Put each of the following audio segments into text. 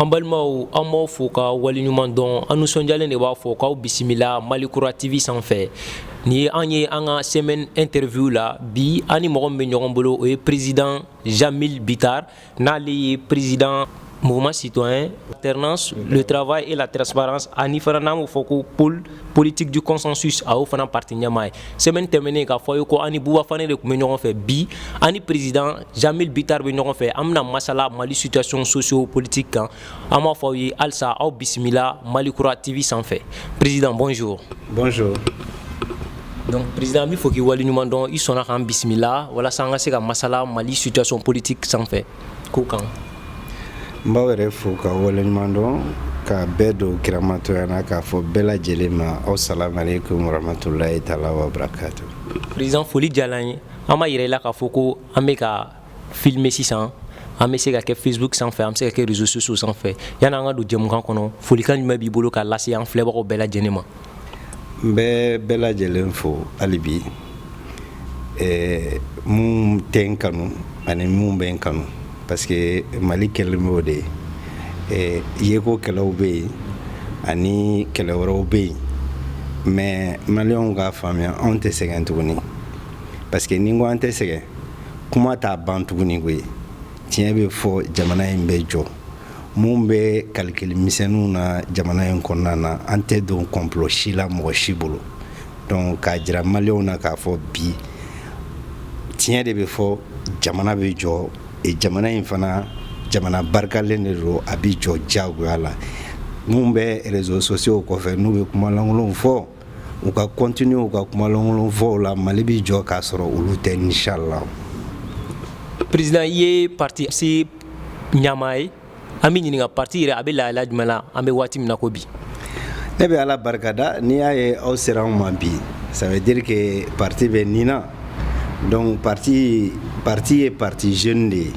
an balimaw an b'aw fo ka waleɲuman dɔn an nisɔndiyalen de b'a fɔ k'aw bisimila mali kura tv sanfɛ nin ye an ye an ka semaine interview la bi an ni mɔgɔ min bɛ ɲɔgɔn bolo o ye président jamil bitar n'ale ye président mouvement citoyen alternance le travail et la transparence ani fana n'an b'o fɔ ko pôle politique du consensus a y'o fana parti ɲɛmaa ye semaine tɛmɛnen k'a fɔ ye ko an ni Buba Fane de tun bɛ ɲɔgɔn fɛ bi an ni président Jamil Bitar bɛ ɲɔgɔn fɛ an bɛna masala Mali situation socio-politique kan an b'a fɔ aw ye halisa aw bisimila malikura tv sanfɛ président bonjour bonjour donc président an b'i fo k'i waleɲuman dɔn i sɔnna k'an bisimila walasa an ka se ka masala mali situation politique sanfɛ ko kan n b'aw yɛrɛ fo ka waleɲuman dɔn ka bɛɛ don kiramatoya na k'a fɔ bɛɛ lajɛlen ma aw salamu aleykum warahmatulahi taala wabarakatu président foli diyala an ye an b'a yira i la k'a fɔ ko an bɛ ka filmer sisan an bɛ se ka kɛ facebook sanfɛ an bɛ se ka kɛ réseaux sociaux sanfɛ yanni an ka don jɛmukan kɔnɔ folikan jumɛn b'i bolo k'a lase an filɛbagaw bɛɛ lajɛlen ma n bɛ bɛɛ lajɛlen fo hali bi minnu tɛ n kanu ani minnu bɛ n kanu parce que mali kɛlen b'o de ye yeko kɛlɛw bɛ yen ani kɛlɛ wɛrɛw bɛ yen mais maliyɛnw k'a faamuya anw tɛ sɛgɛn tuguni parce que ni n ko an tɛ sɛgɛn kuma t'a ban tuguni koyi tiɲɛ bɛ fɔ jamana in bɛ jɔ minnu bɛ calcul misɛnninw na jamana in kɔnɔna na an tɛ don complot si la mɔgɔ si bolo donc k'a jira maliyɛnw na k'a fɔ bi tiɲɛ de bɛ fɔ jamana bɛ jɔ e jamana in fana jamana barikalen de don a bɛ jɔ diyagoya la minnu bɛ réseaux sociaux kɔfɛ n'u bɛ kuma lankolonw fɔ u ka continuer u ka kumalankolon fɔw la mali bɛ jɔ k'a sɔrɔ olu tɛ inchallah président i ye parti ɲɛmaa ye an b'i ɲininka parti yɛrɛ a bɛ lahala jumɛn la an bɛ waati min na ko bi ne bɛ ala barika da n'i y'a ye aw sera anw ma bi ça veut dire que parti bɛ nin na donc parti ye parti jeune de ye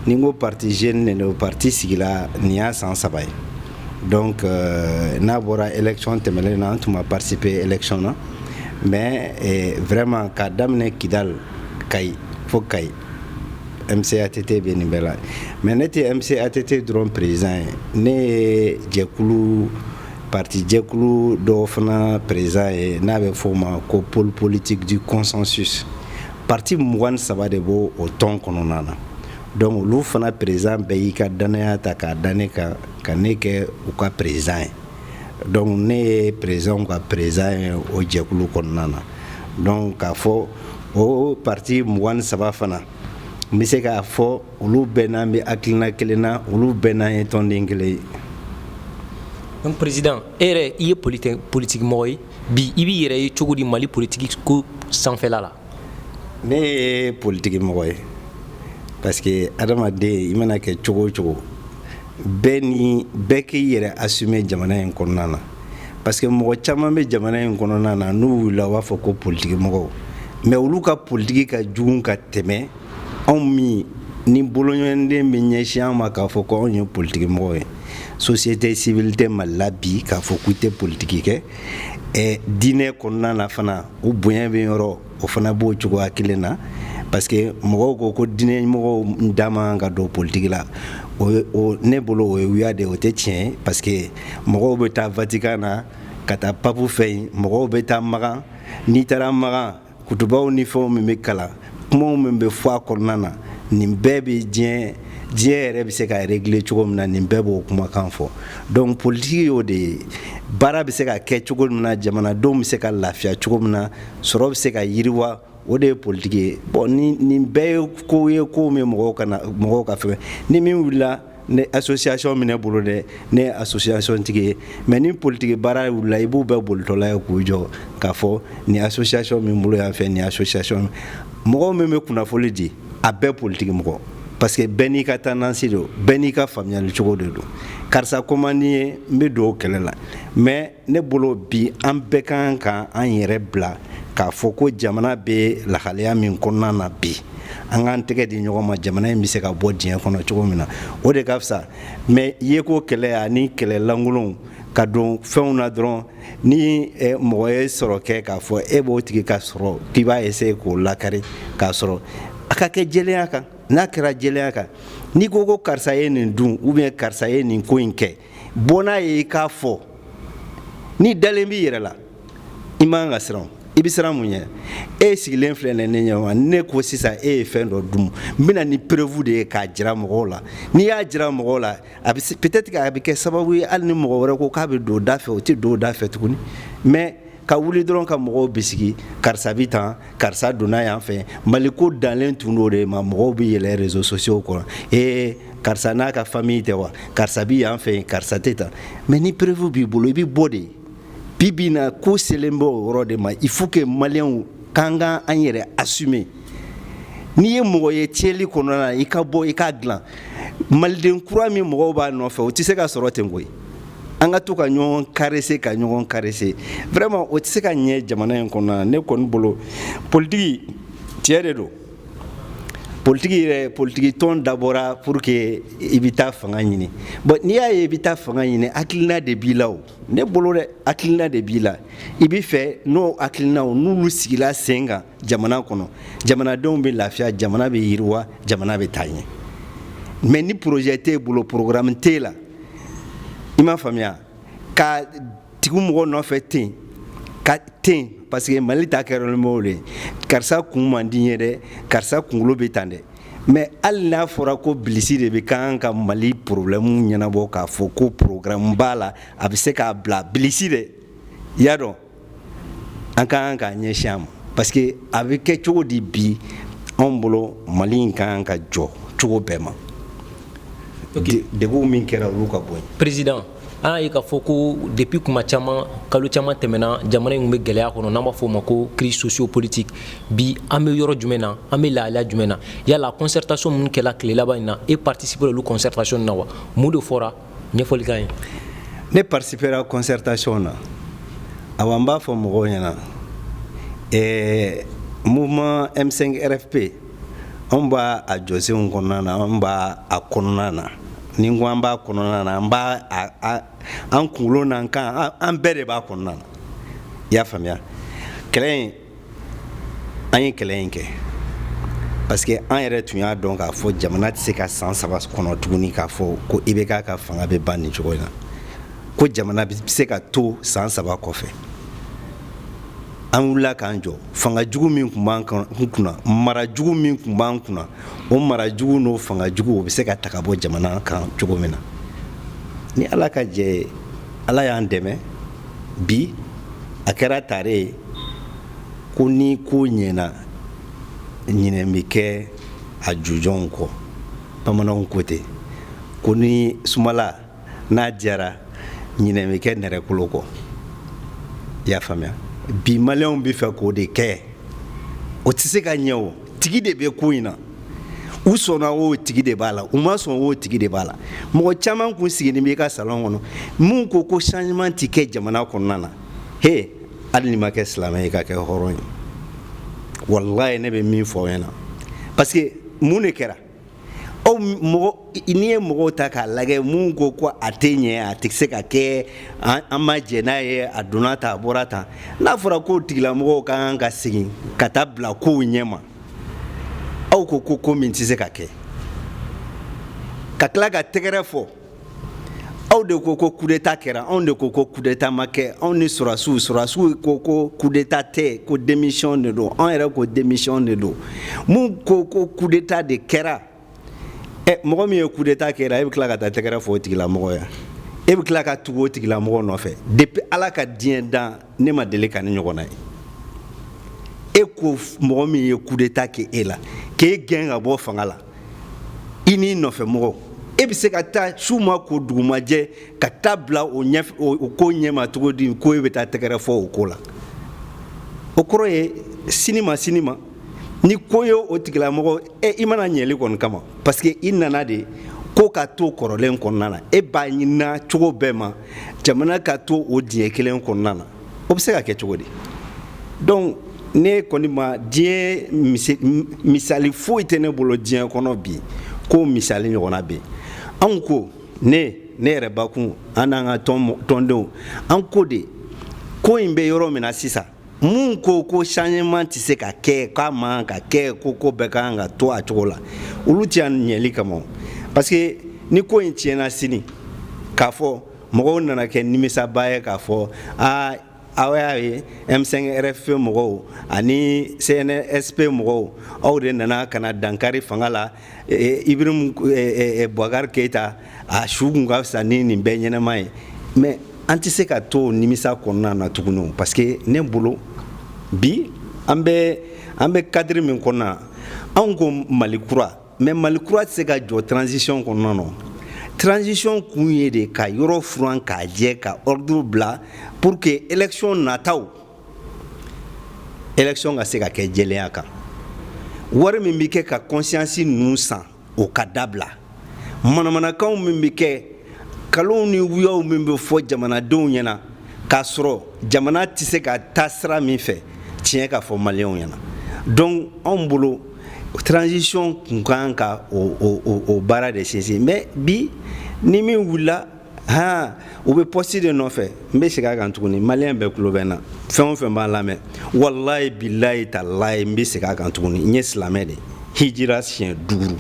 ni n ko parti jeune de don parti sigila nin y'a san saba ye Donc n'a bɔra élection tɛmɛnen na an tun ma participer élection na mais vraiment k'a daminɛ Kidal Kayi fo Kayi MCATT bɛ nin bɛɛ la mais ne tɛ MCATT dɔrɔn président ye ne ye jɛkulu parti jɛkulu dɔ fana président ye n'a bɛ fɔ o ma ko pôle politique du consensus parti mugan saba de b'o tɔn kɔnɔna na Dɔnku olu fana perezidan bɛɛ y'i ka dannaya ta k'a da ne kan ka ne kɛ u ka perezidan ye dɔnku ne ye perezidanw ka perezidan ye o jɛkulu kɔnɔna na dɔnku k'a fɔ o pati mugan ni saba fana n bɛ se k'a fɔ olu bɛɛ n'an bɛ hakilina kelen na olu bɛɛ n'an ye tɔnden kelen ye dɔnku perezidan e yɛrɛ i ye politigi mɔgɔ ye bi i b'i yɛrɛ ye cogo di mali politigi ko sanfɛla la ne ye politiki mɔgɔ ye parce que adamaden i mana kɛ cogo o cogo bɛɛ ni bɛɛ k'i yɛrɛ assumer jamana in kɔnɔna na parce que mɔgɔ caman bɛ jamana in kɔnɔna na n'u wulila u b'a fɔ ko politiki mɔgɔw mais olu ka politiki ka jugu ka tɛmɛ anw min ni bolonkɔniden bɛ ɲɛsin an ma k'a fɔ ko anw ye politiki mɔgɔw ye société civile tɛ mali la bi k'a fɔ k'u tɛ politiki kɛ eh, diinɛ kɔnɔna na fana u bonya bɛ yɔrɔ o fana b'o cogoya kelen na parce que mɔgɔw ko ko diinɛmɔgɔw da man ka don politigi la o ne bolo o ye wuya de o tɛ tiɲɛ parce que mɔgɔw bɛ taa vatikan na ka taa papu fɛ yen mɔgɔw bɛ taa makan n'i taara makan kutubaw ni fɛnw min bɛ kalan kumaw min bɛ fɔ a kɔnɔna na nin bɛɛ bɛ diɲɛ diɲɛ yɛrɛ bɛ se ka régler cogo min na nin bɛɛ b'o kumakan fɔ donc politiki y'o de ye baara bɛ se ka kɛ cogo min na jamanadenw bɛ se ka lafiya cogo min na sɔrɔ bɛ se ka yiriwa o de ye politiki ye bon nin nin bɛɛ ye kow ye kow min mɔgɔw kana mɔgɔw ka fɛgɛ ni min wulila ne association bɛ ne bolo dɛ ne ye association tigi ye mais ni politiki baara wulila i b'u bɛɛ bolitɔla ye k'u jɔ k'a fɔ ni association min bolo yan fɛ ni association mɔgɔ min bɛ kunnafoli di a bɛɛ politiki mɔgɔ parce que bɛɛ n'i ka tendance don bɛɛ n'i ka faamuyali cogo de don karisa ko man di n ye n bɛ don o kɛlɛ la mais ne bolo bi an bɛɛ ka kan ka an yɛrɛ bila k'a fɔ ko jamana bɛ lahalaya min kɔnɔna na bi an k'an tɛgɛ di ɲɔgɔn ma jamana in bɛ se ka bɔ dingɛ kɔnɔ cogo min na o de ka fisa mais yeko kɛlɛ ani kɛlɛ lankolonw ka don fɛnw na dɔrɔn ni eh, mɔgɔ ye sɔrɔ kɛ k'a fɔ e b'o tigi ka sɔrɔ k'i b'a essayer k'o lakari k'a sɔrɔ a ka kɛ jɛlenya kan n'a kɛra jɛlenya kan n'i ko ko karisa ye nin dun ou bien karisa ye nin ko in kɛ bɔ n'a ye i k'a fɔ n'i dalen b'i yɛrɛ la i man ka siran i bɛ siran mun ɲɛ e sigilen filɛ nin ne ɲɛma ne ko sisan e ye fɛn dɔ dun n bɛna ni preuve de ye k'a jira mɔgɔw la n'i y'a jira mɔgɔw la a bɛ peut-être que a bɛ kɛ sababu ye hali ni mɔgɔ wɛrɛ ko k'a bɛ don da fɛ o tɛ don da fɛ tuguni mais ka wuli dɔrɔn ka mɔgɔw bisigi karisa bi tan karisa donna yan fɛ mali ko danlen tun do de ma mɔgɔw bɛ yɛlɛ réseaux sociaux kɔnɔ ee karisa n'a ka famille tɛ wa karisa bi yan fɛ karisa tɛ tan mais ni preuve b'i bolo i bɛ bɔ de bi bi na ko selen bɛ o yɔrɔ de ma il faut que maliyɛnw k'an ka an yɛrɛ assumer n'i ye mɔgɔ ye tiɲɛli kɔnɔna na i ka bɔ i k'a dilan maliden kura min mɔgɔw b'a nɔfɛ o tɛ se ka sɔrɔ ten koyi an ka to ka ɲɔgɔn caresser ka ɲɔgɔn caresser vraiment o tɛ se ka ɲɛ jamana in kɔnɔna ne kɔni bolo politiki tiɲɛ de don politiki yɛrɛ politiki tɔn dabɔra pour que i bɛ taa fanga ɲini bon n'i y'a ye i bɛ taa fanga ɲini hakilina de b'i la o ne bolo dɛ hakilina de b'i la i bɛ fɛ n'o hakilinaw n'olu sigila sen kan jamana kɔnɔ jamanadenw bɛ lafiya jamana bɛ yiriwa jamana bɛ taa ɲɛ mais ni projet t'e bolo programme t'e la i m'a faamuya ka tugu mɔgɔ nɔfɛ ten ka ten parce que mali ta kɛlen b'o de karisa kun man di n ye dɛ karisa kunkolo bɛ tan dɛ mais hali n'a fɔra ko bilisi de bɛ kan ka mali problème ɲɛnabɔ k'a fɔ ko programme b'a la a bɛ se k'a bila bilisi dɛ y'a dɔn an ka kan k'a ɲɛsin a ma parce que a bɛ kɛ cogo di bi anw bolo mali in ka kan ka jɔ cogo bɛɛ ma degunw min kɛra olu ka bɔ yen président an y'a ye k'a fɔ ko depuis kuma caman kalo caman tɛmɛna jamana in bɛ gɛlɛya kɔnɔ n'an b'a fɔ o ma ko crise sociopolitique bi an bɛ yɔrɔ jumɛn na an bɛ lahalaya jumɛn na yala concertation minnu kɛra tile laban in na e participera olu concertation na wa mun de fɔra ɲɛfɔli k'an ye ne participera concertation na awa n b'a fɔ mɔgɔw ɲɛna ɛɛ mouvement M5 RFP anw b'a a jɔsenw kɔnɔna na anw b'a a kɔnɔna na ni n ko an b'a kɔnɔna na an b'a an kunkolo n'an kan an bɛɛ de b'a kɔnɔna na i y'a faamuya kɛlɛ in an ye kɛlɛ in kɛ parce que an yɛrɛ tun y'a dɔn k'a fɔ jamana tɛ se ka san saba kɔnɔ tuguni k'a fɔ ko IBK ka fanga bɛ ban nin cogo in na ko jamana bɛ se ka to san saba kɔfɛ an wulila k'an jɔ fanga jugu min tun b'an kunna mara jugu min tun b'an kunna o mara jugu n'o fanga jugu o bɛ se ka ta ka bɔ jamana kan cogo min na ni ala ka cɛ ye ala y'an dɛmɛ bi a kɛra tare ye ko ni ko ɲɛna ɲinɛ bɛ kɛ a jujɔnw kɔ bamananw ko ten ko ni sumala na diyara ɲinɛ bɛ kɛ nɛrɛkolo kɔ i y'a faamuya bi maliyɛnw bɛ fɛ k'o de kɛ o tɛ se ka ɲɛ o tigi de bɛ ko in na u sɔnna o tigi de b'a la u ma sɔn o tigi de b'a la mɔgɔ caman kun sigilen b'i ka salon kɔnɔ min ko ko changement tɛ kɛ jamana kɔnɔna na he hali ni ma kɛ silamɛ ye ka kɛ hɔrɔn ye walayi ne bɛ min fɔ aw ɲɛna parce que mun de kɛra aw mɔgɔ n'i ye mɔgɔw ta k'a lagɛ mun ko ko a tɛ ɲɛ a tɛ se ka kɛ an ma jɛ n'a ye a donna tan a bɔra tan n'a fɔra ko tigilamɔgɔw ka kan ka segin ka taa bila kow ɲɛ ma aw ko ko ko min tɛ se ka kɛ ka tila ka tɛgɛrɛ fɔ aw de ko ko kudeta kɛra anw de ko ko kudeta ma kɛ anw ni sɔrɔdasiw sɔrɔdasiw ko ko kudeta tɛ ko démission de don anw yɛrɛ ko démission de don mun ko ko kudeta de kɛra ɛ mɔgɔ min ye kudeta kɛra e bɛ tila ka taa tɛgɛrɛ fɔ o tigilamɔgɔ ye e bɛ tila ka tugu o tigilamɔgɔ nɔfɛ depuis ala ka diɲɛ dan ne ma deli ka nin ɲɔgɔnna ye e ko mɔgɔ min ye kudeta kɛ e la k'e gɛn ka bɔ fanga la i n'i nɔfɛmɔgɔ e bɛ se ka taa su ma ko dugu ma jɛ ka taa bila o ko ɲɛma cogo di ko e bɛ taa tɛgɛrɛ fɔ o ko la o kɔrɔ ye sini ma sini ma ni ko ye o tigilamɔgɔ e i ma na ɲɛli kɔni kama parce que i nana de ko ka to kɔrɔlen kɔnɔna na e b'a ɲinina cogo bɛɛ ma jamana ka to o dingɛ kelen kɔnɔna na o bɛ se ka kɛ cogo di donc ne kɔni ma diɲɛ misali foyi tɛ ne bolo diɲɛ kɔnɔ bi ko misali ɲɔgɔnna bɛ anw ko ne ne yɛrɛ bakun an n'an ka tɔndenw an ko de ko in bɛ yɔrɔ min na sisan mun ko ko changement tɛ se ka kɛ k'a man ka kɛ ko ko bɛɛ ka kan ka to a cogo la olu tɛ yan ɲɛli kama parce que ni ko in tiɲɛna sini k'a fɔ mɔgɔw nana kɛ nimisabaa ye k'a fɔ aa aw y'a ye M5 RFP mɔgɔw ani CNSP mɔgɔw aw de nana ka na dankari fanga la Ibrahim Boubacar Keita a su tun ka fisa ni nin bɛɛ ɲɛnama ye mais an tɛ se ka to nimisa kɔnɔna na tuguni parce que ne bolo bi an bɛ cadre min kɔnɔna anw ko mali kura mais mali kura tɛ se ka jɔ transition kɔnɔna na transition kun ye de ka yɔrɔ furan k'a jɛ ka ordre bila pour que élection nataw élection ka se ka kɛ jɛlenya kan wari min bɛ kɛ ka conscience ninnu san o ka dabila manamanakanw min bɛ kɛ kalonw ni wuyaw min bɛ fɔ jamanadenw ɲɛna k'a sɔrɔ jamana tɛ se ka taa sira min fɛ tiɲɛ ka fɔ maliyɛnw ɲɛna donc anw bolo transition kun ka kan ka o o o baara de sinsin mais bi ni min wulila han u bɛ pɔsi de nɔfɛ n bɛ segin a kan tuguni maliyɛn bɛɛ tulo bɛ n na fɛn o fɛn b'a lamɛn walayi bilayi talayi n bɛ segin a kan tuguni n ye silamɛ de hijira siɲɛ duuru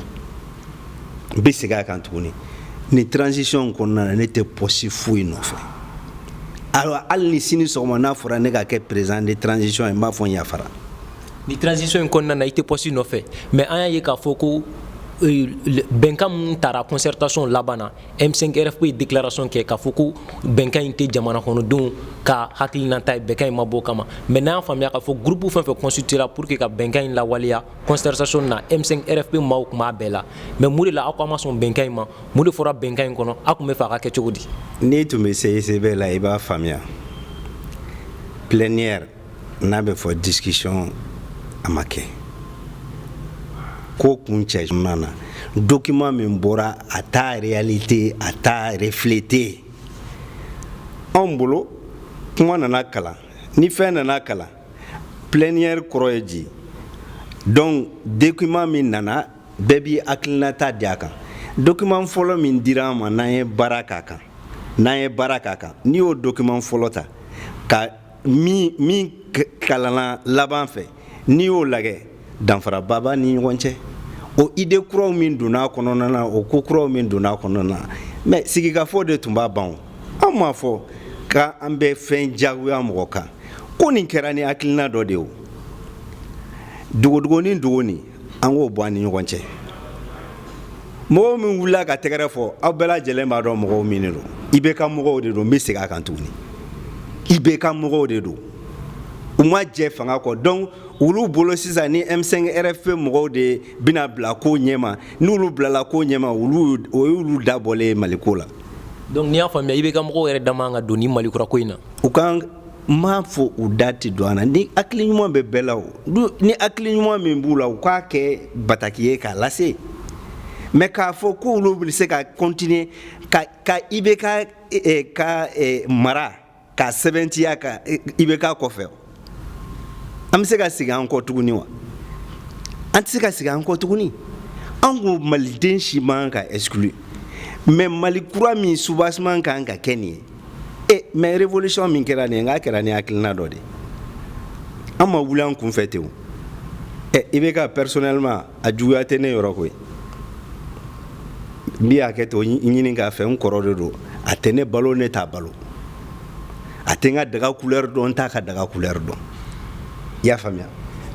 n bɛ segin a kan tuguni nin transition kɔnɔna na ne tɛ pɔsi foyi nɔfɛ alors hali ni sini sɔgɔma n'a fɔra ne ka kɛ président de transition ye n b'a fɔ n yafara ni transition in kɔnɔna na i tɛ pɔsi nɔfɛ mais an y'a ye k'a fɔ ko bɛnkan min tara concertation laban na M5RFP ye déclaration kɛ k'a fɔ ko bɛnkan in tɛ jamana kɔnɔdenw ka hakilinata ye bɛnkan in ma bɔ o kama mais n'an y'a faamuya k'a fɔ groupe fɛn fɛn constituer la pour que ka bɛnkan in lawaleya concertation na M5RFP maaw tun b'a bɛɛ la mais mun de la aw k'aw ma sɔn bɛnkan in ma mun de fɔra bɛnkan in kɔnɔ aw tun b'a fɛ a ka kɛ cogo di. n'i tun bɛ CICB la i b'a faamuya plénière n'a bɛ fɔ discussion a ma kɛ ko kuncɛ jumɛn na document min bɔra a t'a réalité a t'a refléter anw bolo kuma nana kalan ni fɛn nana kalan plénière kɔrɔ ye di donc document min nana bɛɛ b'i hakilinata di a kan document fɔlɔ min dira an ma n'an ye baara k'a kan n'i y'o document fɔlɔ ta ka ni min kalanna laban fɛ n'i y'o lagɛ danfaraba b'a ni ɲɔgɔn cɛ o idée kuraw min donna kɔnɔna na o ko kuraw min donna kɔnɔna na mais sigikafɔ de tun b'a ban anw m'a fɔ k'an bɛ fɛn jagoya mɔgɔ kan ko nin kɛra ni hakilina dɔ de ye o dogodogoni dogoni an k'o bɔ an ni ɲɔgɔn cɛ mɔgɔw min wulila ka tɛgɛrɛ fɔ aw bɛɛ lajɛlen b'a dɔn mɔgɔw min de don IBK mɔgɔw de don n bɛ segin a kan tuguni IBK mɔgɔw de don u ma jɛn fanga kɔ donc olu bolo sisan ni m5 rfp mɔgɔw de bɛna bila ko ɲɛma n'olu bilala ko ɲɛma o y'olu dabɔlen ye maliko la donc n'i y'a faamuya IBK mɔgɔw yɛrɛ da man ka don ni mali kura ko in na nk'an m'a fɔ u da tɛ don an na ni hakili ɲuman bɛ bɛɛ la o ni hakili ɲuman min b'u la u k'a kɛ bataki ye k'a lase mais k'a fɔ k'olu bɛ se ka continuer ka ka IBK eh, eh, ka eh, mara k'a sɛbɛntiya ka IBK kɔfɛ an bɛ se ka segin an kɔ tuguni wa an tɛ se ka segin an kɔ tuguni an ko maliden si man ka exclu mais mali kura min soubassement kan ka kɛ nin ye e mais révolution min kɛra nin ye n k'a kɛra ni hakilina dɔ de ye an ma wuli an kunfɛ ten o ɛ IBK personnellement a juguya tɛ ne yɔrɔ koyi n bɛ hakɛto ɲini k'a fɛ n kɔrɔ de don a tɛ ne balo ne t'a balo a tɛ n ka daga couleur dɔn n t'a ka daga couleur dɔn i y'a faamuya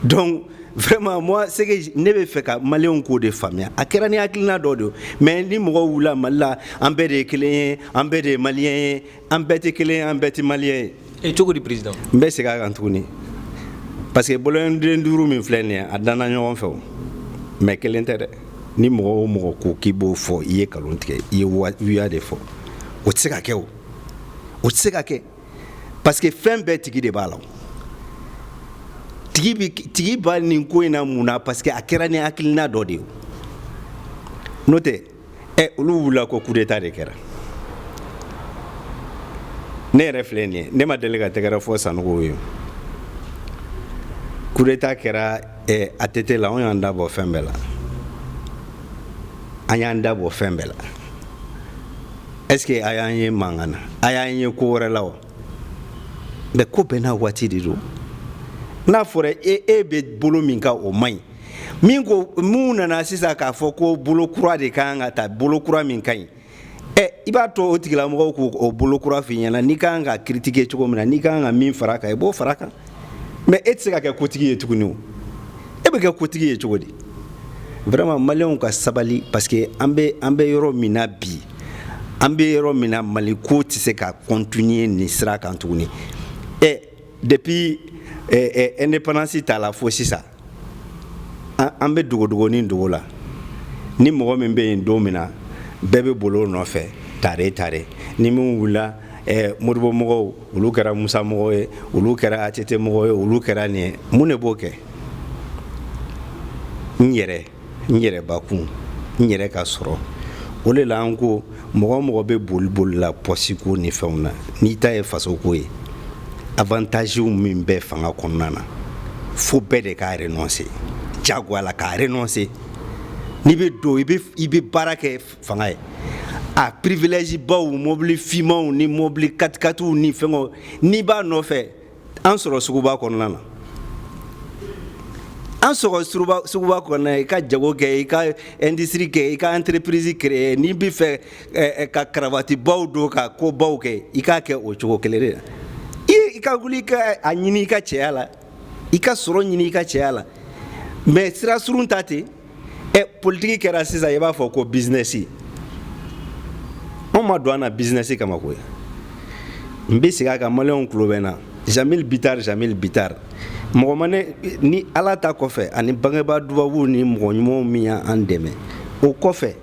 donc vraiment moi c'est que ne bɛ fɛ ka maliyɛnw k'o de faamuya a kɛra ni hakilina dɔ de ye mais ni mɔgɔw wulila mali la an bɛɛ de ye kelen ye an bɛɛ de ye maliyɛn ye an bɛɛ tɛ kelen ye an bɛɛ tɛ maliyɛn ye. e cogo di président. n bɛ segin a kan tuguni parce que bolonkɔniden duuru min filɛ nin ye a danna ɲɔgɔn fɛ o mais kelen tɛ dɛ ni mɔgɔ o mɔgɔ ko k'i b'o fɔ i ye nkalon tigɛ i ye wuya de fɔ o tɛ se ka kɛ o o tɛ se ka kɛ. parce que fɛn bɛɛ tigi de b'a la tigi bi tigi ba nin ko in na mun na parce que a kɛra ni hakilina dɔ de ye n'o tɛ ɛ olu wulila ko coup d'état de kɛra ne yɛrɛ filɛ nin ye ne ma deli ka tɛgɛrɛ fɔ sanogo ye coup d'état kɛra ɛ atete la anw y'an da bɔ fɛn bɛɛ la an y'an da bɔ fɛn bɛɛ la est ce que a y'an ye mankan na a y'an ye ko wɛrɛ la wa mais ko bɛɛ n'a waati de don n'a fɔra e e bɛ bolo min kan o man ɲi min ko mun nana sisan k'a fɔ ko bolo kura de ka kan ka ta bolo kura min ka ɲi ɛ i b'a to o tigilamɔgɔw k'o bolo kura f'i ɲɛna n'i ka kan ka critiquer cogo min na n'i ka kan ka min fara kan i b'o fara kan mais e tɛ se ka kɛ kotigi ye tuguni o e bɛ kɛ kotigi ye cogo di vraiment maliyɛnw ka sabali parce que an bɛ an bɛ yɔrɔ min na bi an bɛ yɔrɔ min na mali ko tɛ se ka continuer nin sira kan tuguni ɛ depuis indépendance ta la fo sisan an bɛ dogodogonin dogo la ni mɔgɔ min bɛ yen don min na bɛɛ bɛ bol'o nɔfɛ tare tare ni min wulila eh, modibo mɔgɔw olu kɛra musa mɔgɔw ye olu kɛra atete mɔgɔw ye olu kɛra nin ye mun de b'o kɛ n yɛrɛ n yɛrɛbakun n yɛrɛ ka sɔrɔ o le la an ko mɔgɔ mɔgɔ bɛ boli boli la pɔsiko ni fɛnw na n'i ta ye fasoko ye avantaziw min bɛ fanga kɔnɔna na fo bɛɛ de ka renoncer jagoya la ka renoncer n'i bɛ don i bɛ baara kɛ fanga ye a privilège baw mobili fimanw ni mobili katikatiw ni fɛngɛw n'i b'a nɔfɛ an sɔrɔ suguba kɔnɔna na an sɔrɔ suguba kɔnɔna i ka jago kɛ i ka industrie kɛ i ka entreprise créer n'i bɛ fɛ eh, eh, ka karavatibaw don ka ko baw kɛ i k'a kɛ o cogo kelen de la i ka wuli i k'a ɲini i ka cɛya la i ka sɔrɔ ɲini i ka cɛya la mais sira surun ta ten ɛ politiki kɛra sisan i b'a fɔ ko bizinɛsi anw ma don an na bizinɛsi kama koyi n bɛ segin a kan maliyɛnw tulo bɛ n na jamil bitar jamil bitar mɔgɔ ma ne ni ala ta kɔfɛ ani bangebaa dubabuw ni mɔgɔ ɲumanw min y'an dɛmɛ o kɔfɛ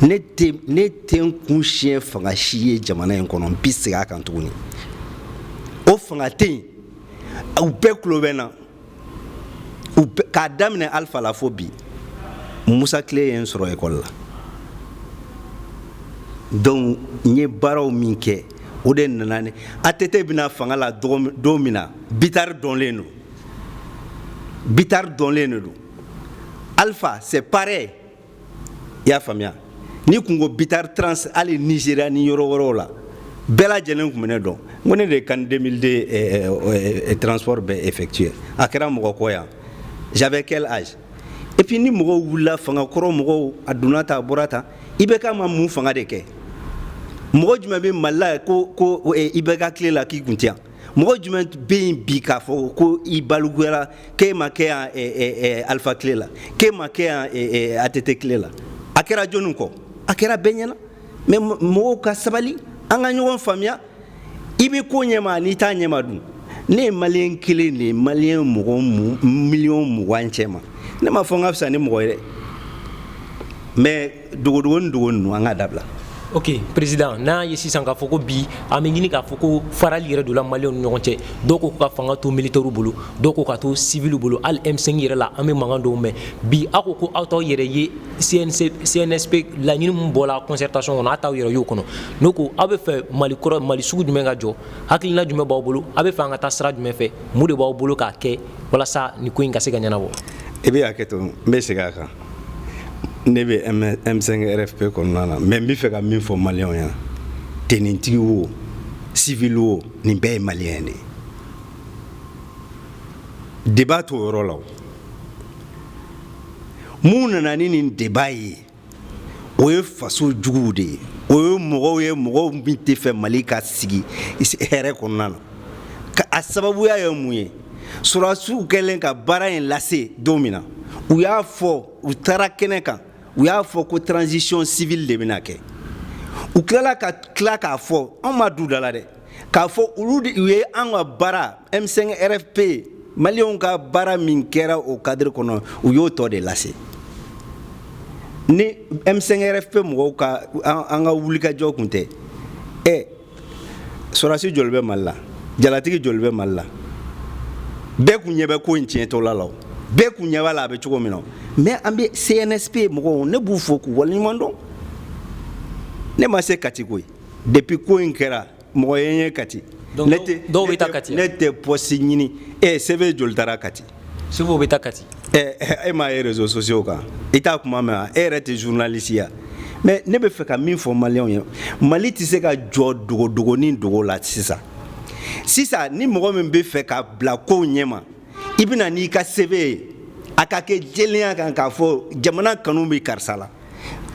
ne tɛ ne tɛ n kun siɲɛ fanga si ye jamana in kɔnɔ n bɛ segin a kan tuguni o fanga tɛ yen u bɛɛ tulo bɛ n na k'a daminɛ alifa la fo bi musa tile ye n sɔrɔ ekɔli la donc n ye baaraw min kɛ o de nana ni att bɛna fanga la don min na bitari dɔnlen don bitari dɔnlen de don alpha c'est pareil i y'a faamuya n'i kun ko bitar trans hali nizeriya ni yɔrɔ wɛrɛw la bɛɛ lajɛlen kun bɛ ne dɔn n ko ne de ye can 2002 eh, eh, eh, transport bɛɛ effectuer a kɛra mɔgɔ kɔ yan j'avais quel âge et puis ni mɔgɔw wulila fanga kɔrɔ mɔgɔw a donna ta a bɔra ta ibk ma mun fanga de kɛ mɔgɔ jumɛn bɛ mali la ko ko ibk tile la k'i kun tɛ yan mɔgɔ jumɛn bɛ yen bi k'a fɔ ko i balikuyara k'e ma kɛ yan eh, eh, eh, alifa tile la k'e ma kɛ yan att tile la a kɛra jɔnni kɔ a kɛra bɛɛ ɲɛna mais mɔgɔw ka sabali an ka ɲɔgɔn faamuya i bɛ ko ɲɛma n'i t'a ɲɛma dun ne ye maliyɛn kelen de ye maliyɛn mɔgɔ miliyɔn mugan cɛ ma ne m'a fɔ n ka fisa ni mɔgɔ ye dɛ mais dogodogonin dogo ninnu an k'a dabila ok président n'a ye sisan k'a fɔ ko bi an bɛ ɲini k'a fɔ ko farali yɛrɛ donna maliyɛnw ni ɲɔgɔn cɛ dɔw ko ka fanga to militɛriw bolo dɔw ko k'a to siviliw bolo hali m5 yɛrɛ la an bɛ mankan dɔw mɛn bi aw ko ko aw t'aw yɛrɛ ye cnsp laɲini min bɔla concertation kɔnɔ aw t'aw yɛrɛ y'o kɔnɔ n'o ko aw bɛ fɛ mali kɔrɔ mali sugu jumɛn ka jɔ hakilina jumɛn b'aw bolo aw bɛ fɛ an ka taa sira jumɛn fɛ mun de b'aw bolo k'a kɛ walasa nin ko in ka se ka ɲɛnabɔ i bɛ hakɛ to n bɛ segin a kan ne bɛ M5 RFP kɔnɔna na mais n bɛ fɛ ka min fɔ maliyɛnw ɲɛna tenintigi wo civil wo nin bɛɛ ye maliyɛn de ye débat t'o yɔrɔ la o mun nana ni nin débat ye o ye faso juguw de ye o ye mɔgɔw ye mɔgɔw min tɛ fɛ Mali ka sigi hɛrɛ kɔnɔna na a sababuya ye mun ye Sɔrɔdasiw kɛlen ka baara in lase don min na u y'a fɔ u taara kɛnɛ kan u y'a fɔ ko transition civile de bɛna kɛ u tilala ka tila k'a fɔ anw m'a d'u da la dɛ k'a fɔ olu u ye an ka baara M5 RFP maliyɛnw ka baara min kɛra o cadre kɔnɔ u y'o tɔ de lase ni M5 RFP mɔgɔw ka an ka wulikajɔ kun tɛ ɛ sɔrɔdasi joli bɛ mali la jalatigi joli bɛ mali la bɛɛ kun ɲɛ bɛ ko in tiɲɛtɔla la bɛɛ kun ɲɛ b'a la a bɛ cogo min na mais an bɛ cnsp mɔgɔw ne b'u fo k'u waleɲuman dɔn ne ma se kati koyi depuis ko in kɛra mɔgɔ ye n ye kati ne tɛ poste ɲini e cv joli taara kati CV bɛ taa kati e m'a ye réseaux sociaux kan i t'a kuma mɛn e yɛrɛ tɛ journaliste ya mais ne bɛ fɛ ka min fɔ maliyɛnw ye mali tɛ se ka jɔ dogodogonin dogo la sisan sisan ni mɔgɔ min bɛ fɛ ka bila kow ɲɛma i bɛ na n'i ka CV ye a ka kɛ jɛlenya kan k'a fɔ jamana kanu bɛ karisa la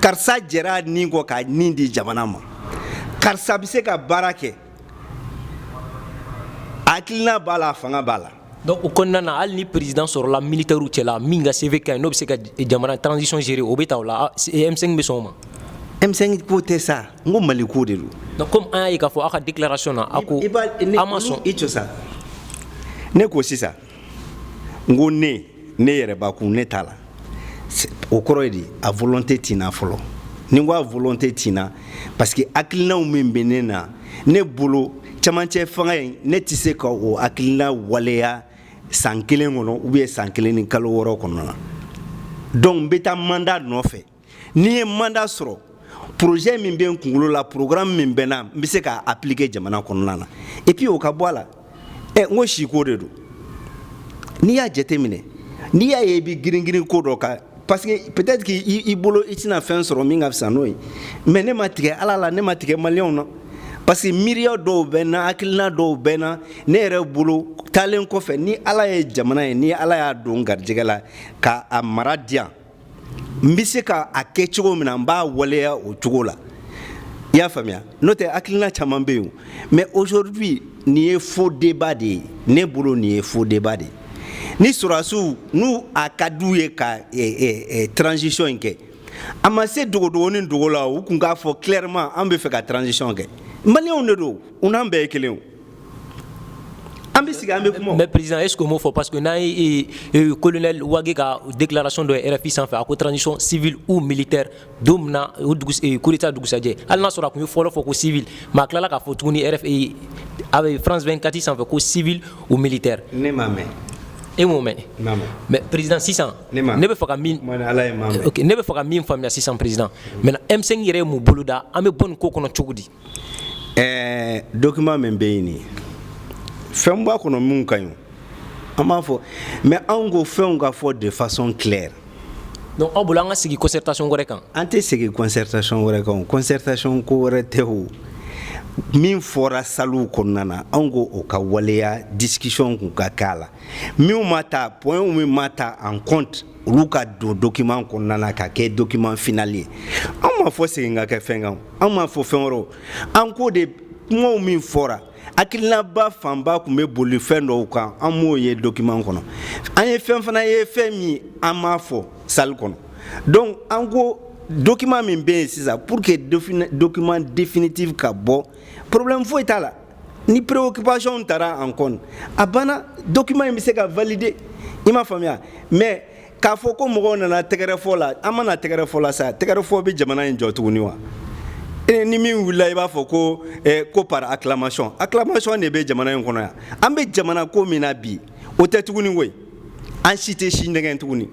karisa jɛra nin kɔ ka nin di jamana ma karisa bɛ se ka baara kɛ a hakiliina b'a la a fanga b'a la donc o kɔnɔna na hali ni président sɔrɔla militaires cɛla min ka CV ka ɲi n'o bɛ se ka jamana transition gérer o bɛ ta o la M5 bɛ sɔn o ma. M5 ko tɛ sa n ko Mali ko de don. donc comme an y'a ye k'a fɔ aw ka déclaration na aw ko aw ma sɔn. i to sa ne ko sisan n ko ne. ne yɛrɛ bakun ne t'a la o kɔrɔ ye di a volonté tɛ n na fɔlɔ ni n ko a volonté tɛ n na parce que hakilinaw min bɛ ne na ne bolo camancɛ fanga in ne tɛ se ka o hakilina waleya san kelen kɔnɔ ou bien san kelen ni kalo wɔɔrɔ kɔnɔna na donc n bɛ taa mandat nɔfɛ ni n ye mandat sɔrɔ projet min bɛ n kunkolo la programme min bɛ n na n bɛ se k'a appliquer jamana kɔnɔna na et puis o ka bɔ a la ɛ n ko siko de don n'i y'a jateminɛ n'i y'a ye i bɛ girin girin ko dɔ kan parce que peut-être k'i bolo i tɛna fɛn sɔrɔ min ka fisa n'o ye mais ne ma tigɛ ala la ne ma tigɛ maliyɛnw na parce que miiriya dɔw bɛ n na hakilina dɔw bɛ n na ne yɛrɛ bolo taalen kɔfɛ ni ala ye jamana ye ni ala y'a don garijɛgɛ la ka a mara di yan n bɛ se ka a kɛ cogo min na n b'a waleya o cogo la i y'a faamuya n'o tɛ hakilina caman bɛ yen mais aujourd'hui nin ye faux débat de ye ne bolo nin ye faux débat de ye ni sɔrɔdasiw n'u a ka d'u ye ka eh, eh, eh, transition in kɛ a ma se dogodogonin dogo la u kun k'a fɔ clairement an bɛ fɛ ka transition kɛ maliyɛnw de don u n'an bɛɛ ye kelen o an bɛ sigi an bɛ kuma mais président est ce que u m'o fɔ parce que n'an ye euh, colonel wage ka déclaration dɔ ye rfi sanfɛ a ko transition civile ou militaire don min na o dugu euh, coup d'état dugusajɛ hali n'a sɔrɔ a kun ye fɔlɔ fɔ ko civil mais a tilala k'a fɔ tuguni rf a bɛ france 24 sanfɛ ko civil ou militaire ne m'a mɛn e m'o mɛn mais président sisan ne bɛ fɛ ka min ne bɛ fɛ ka min faamuya sisan président maintenant m5 yɛrɛ ye mun boloda an bɛ bɔ nin ko kɔnɔ cogo di ɛɛ document min bɛ yen ni fɛn b'a kɔnɔ minnu ka ɲi an b'a fɔ mais anw ko fɛnw ka fɔ de façon claire donc aw bolo an ka sigi concertation wɛrɛ kan an tɛ sigi concertation wɛrɛ kan concertation ko wɛrɛ tɛ o min fɔra salle kɔnɔna na anw ko o ka waleya discussion kun ka k'a la minnu ma ta points min ma ta en compte olu ka don document kɔnɔna na ka kɛ document final ye anw m'a fɔ segin ka kɛ fɛn kan anw m'a fɔ fɛn wɛrɛ an ko de kumaw min fɔra hakilinaba fanba kun bɛ boli fɛn dɔw kan an m'o ye document kɔnɔ an ye fɛn fana ye fɛn min an m'a fɔ salle kɔnɔ donc an ko document min bɛ yen sisan pour que document définitif ka bɔ problème foyi t'a la ni préoccupation tara en compte a banna document in bɛ se ka valider i m'a faamuya mais k'a fɔ ko mɔgɔw nana tɛgɛrɛfɔ la an ma na tɛgɛrɛfɔ la sa tɛgɛrɛfɔ bɛ jamana in jɔ tuguni wa e ni min wulila i b'a fɔ ko eh, ko par acclamation acclamation de bɛ jamana in kɔnɔ yan an bɛ jamana ko min na bi o tɛ tuguni koyi an si tɛ si nɛgɛn tuguni